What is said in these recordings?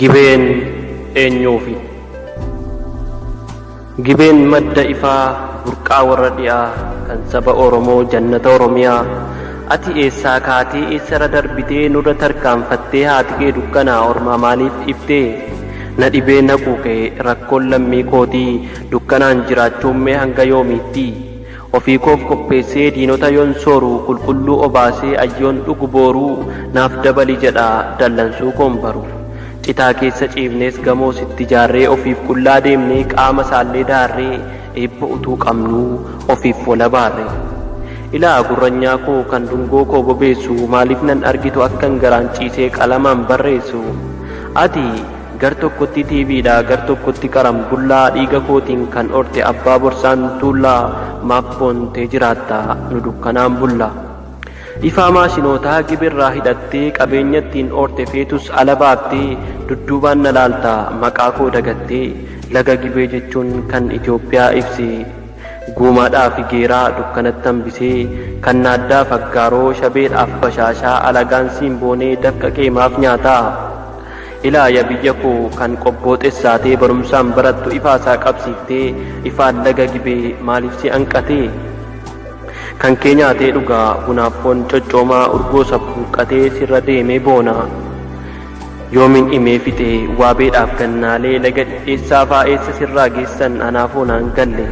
Gibeen eenyuufi? Gibeen madda ifaa burqaa warra dhi'aa kan saba Oromoo jannata Oromiyaa. Ati eessaa kaatee eessarra darbitee nurra tarkaanfattee haati kee dukkanaa ormaa maaliif dhiiftee? Na dhibee naquu kee rakkoon lammii kootii dukkanaan jiraachuun mee hanga yoomiittii? Ofii koof qopheessee diinota yoon sooru Qulqulluu obaasee ayyoon dhugu booru Naaf dabali jedha dallansuu koon baru Citaa keessa ciifnees gamoo sitti jaarree Ofiif qullaa deemnee qaama saallee daarree Eebba utuu qabnuu ofiif wal abaarre Ilaa gurranyaa koo kan dungoo koo bobeessu Maaliif nan argitu akkan garaan ciisee qalamaan barreessu Ati Gar tokkotti TV dha gar tokkotti qaram bullaa dhiiga kootiin kan orte abbaa borsaan tuullaa maaf boontee jiraatta nu dukkanaan bulla ifaa maashinootaa gibirraa hidhattee qabeenya ittiin orte feetus ala baaftee dudduubaan na laalta maqaa koo dagattee laga gibee jechuun kan Itoophiyaa ibse guumaadhaaf figeeraa dukkanatti hambisee kan naaddaaf aggaaroo shabeedhaaf bashaashaa alagaan siin boonee dafqa kee maaf nyaataa Ilaa ya biyya koo kan qobboo xessaatee barumsaan barattu ifaa isaa qabsiiftee ifaan laga gibee maaliif si anqatee kan kee nyaatee dhugaa bunaaf foon coccoomaa urgoo sabbuuqqatee sirra deemee boona yoomin dhimee fixee waabeedhaaf gannaalee laga dhidheessaa faa eessa sirraa geessan anaa foonaan galle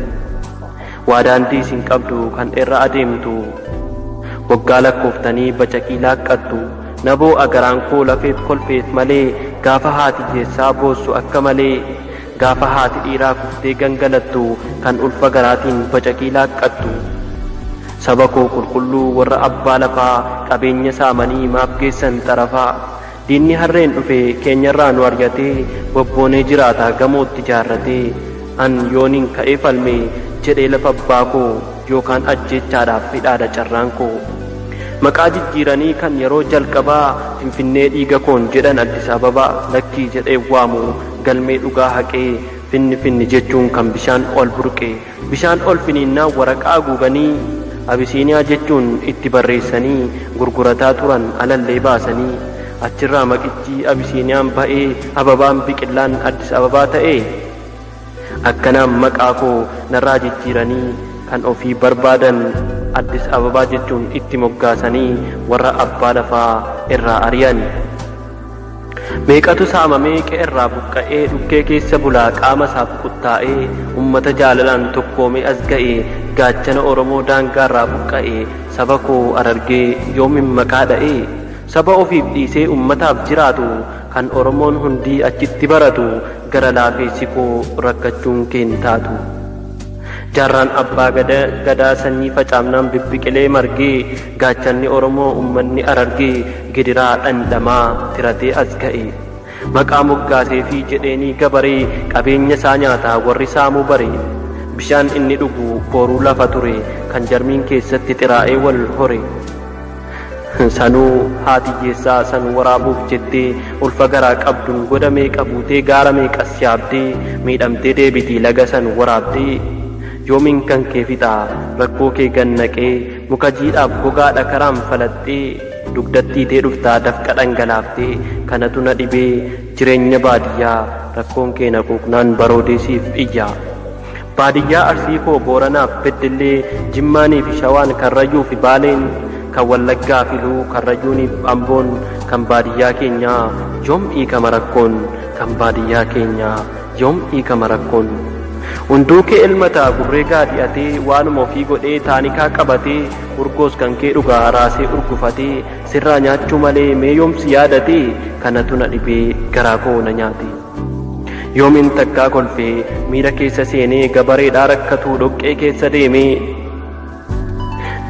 waa daandii isin qabdu kan irra adeemtu waggaa lakkooftanii bacaqii laaqqattu Naboo a garaan koo lafeef kolfeef malee gaafa haati hiyessaa boossu akka malee gaafa haati dhiiraa kuftee gangalattu kan ulfa garaatiin bacaqii laaqqattu saba koo qulqulluu warra abbaa lafaa qabeenya saamanii maaf geessan xarafaa diinni harreen dhufe keenyarraa nu aryatee bobboonee jiraataa gamootti jaarratee an yoonin ka'ee falmee jedhee lafa abbaa koo yookaan ajjeechaadhaaf hidhaadha carraan koo. Maqaa jijjiiranii kan yeroo jalqabaa Finfinnee dhiiga koon jedhan Addis Ababaa lakkii jedheen waamu galmee dhugaa haqee finni finni jechuun kan bishaan ol burqe bishaan ol finiinnaan waraqaa aguuganii Abisiiniyaa jechuun itti barreessanii gurgurataa turan alallee baasanii achirraa maqichi Abisiiniyaan ba'ee Ababaan biqillaan Addis Ababaa ta'ee Akkanaan maqaa koo narraa jijjiiranii kan ofii barbaadan Addis Ababaa jechuun itti moggaasanii warra abbaa lafaa irraa ari'an. Meeqatu saamamee qe'erraa buqqa'ee dhukkee keessa bulaa qaama isaaf quttaa'ee ummata jaalalaan tokkoomee as ga'e gaachana Oromoo daangaarraa buqqa'e saba koo Harargee yoomin maqaa dha'e? Saba ofiif dhiisee ummataaf jiraatu kan Oromoon hundii achitti baratu gara laafeessi koo rakkachuun kee hin taatu. Jaarraan abbaa gada, gadaa sanyii facaafnaan bibbiqilee margee gaachanni Oromoo ummanni Harargee gidiraa dhandhamaa tiratee as ga'e. Maqaa moggaaseefii jedheenii gabaree qabeenya isaa nyaata warri saamuu bare. Bishaan inni dhugu booruu lafa ture kan jarmiin keessatti xiraa'ee wal hore. Sanuu haati hiyyeessaa san waraabuuf jettee ulfa garaa qabduun goda meeqa buutee gaara meeqas yaabdee miidhamtee deebiti laga san waraabdee. Yoomiin kan kee fixa rakkoo kee gad naqee muka jiidhaaf gogaa dhakaraan falaxxee dugdatti hiitee dhufta dafqa dhangalaaftee kanatu na dhibee jireenya baadiyyaa rakkoon kee na quuqnaan baroodee siif iyya. Baadiyyaa Arsii koo Booranaaf Beddellee, Jimmaaniifi Shawaan, Karrayyuufi Baaleen, kan Wallaggaafi Iluu, Karrayyuuniif Amboon, kan baadiyyaa keenyaa yoom hiikama rakkoon, kan baadiyyaa keenyaa yoom hiikama rakkoon? Hunduukee elmataa gurree gaadi'atee, waanuma ofii godhee taanikaa qabatee, urgoos kankee dhugaa raasee urgufatee, sirraa nyaachuu malee mee yoom si yaadatee, kanatu na dhibee garaa koo na nyaatee. Yoomin takkaa kolfee miira keessa seenee gabareedhaa rakkatuu dhoqqee keessa deemee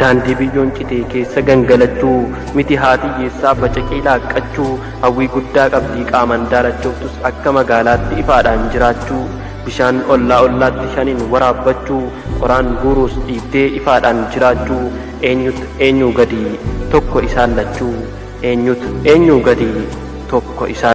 daandii biyyoon citee keessa gangalachuu miti haatiyyeessaa bacaqii laaqqachuu hawwii guddaa qabdii qaaman daalachooftus akka magaalaatti ifaadhaan jiraachuu bishaan ollaa ollaatti shaniin waraabbachuu qoraan guuruus dhiibdee ifaadhaan jiraachuu eenyut eenyuu gadii tokko isaan lachuu eenyut eenyuu gadii tokko isaan